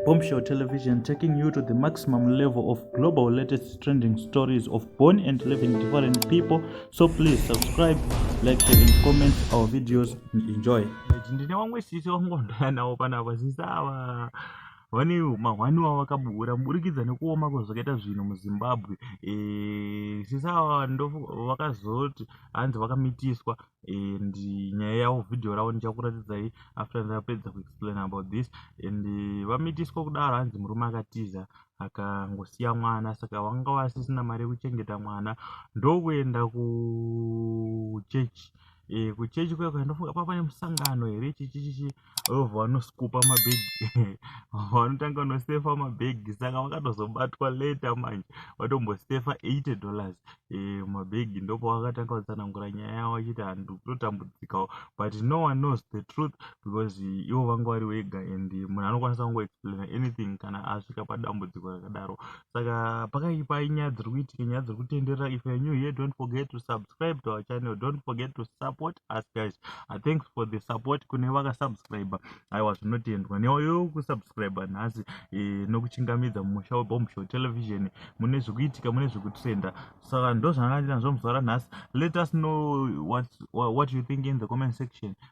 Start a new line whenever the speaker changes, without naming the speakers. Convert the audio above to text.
Bombshell Television taking you to the maximum level of global latest trending stories of born and living different people. So please subscribe, like, share, and comment our videos and enjoy. ndine vamwe sisi vangondoya navo panapa sisi ava vane mahwani wavo vakabuura muburikidza nekuoma kwezvakaita zvinhu muzimbabwe Eh, sisi ava ndofu- vakazoti hanzi vakamitiswa and nyaya yavo vhidhiyo ravo ndichakuratidzai after ndapedza kuexplain about this and vamitiswa kudaro hanzi murume akatiza akangosiya mwana saka vanga vasisina mari yekuchengeta mwana ndokuenda kuchechi e, kuchechi kuya kuya ndofunga pava nemusangano here chichichichi vobva vanoskupa mabhegi vanotanga kunosefa mabhegi saka vakatozobatwa later manje vatombosefa 80 dollars e, mabhegi ndopo vakatanga kutsanangura nyaya yavo vachiti handu kutotambudzikawo but no one knows the truth because ivo vanga vari vega and munhu anokwanisa kungoexplaina anything kana asvika padambudziko rakadaro saka pakaipa inyaya dziri kuitika nyaya dziri kutenderera if you're new here don't forget to subscribe to our channel don't forget to support us guys uh, thanks for the support kune vakasubscribe aiwa zvinotendwa newayo kusubscribe nhasi e, nokuchingamidza mumusha webombshow television mune zvikuitika mune zvikutrenda saka ndozvanga ndinazvo muzuva ranhasi let us know what, what you think in the comment section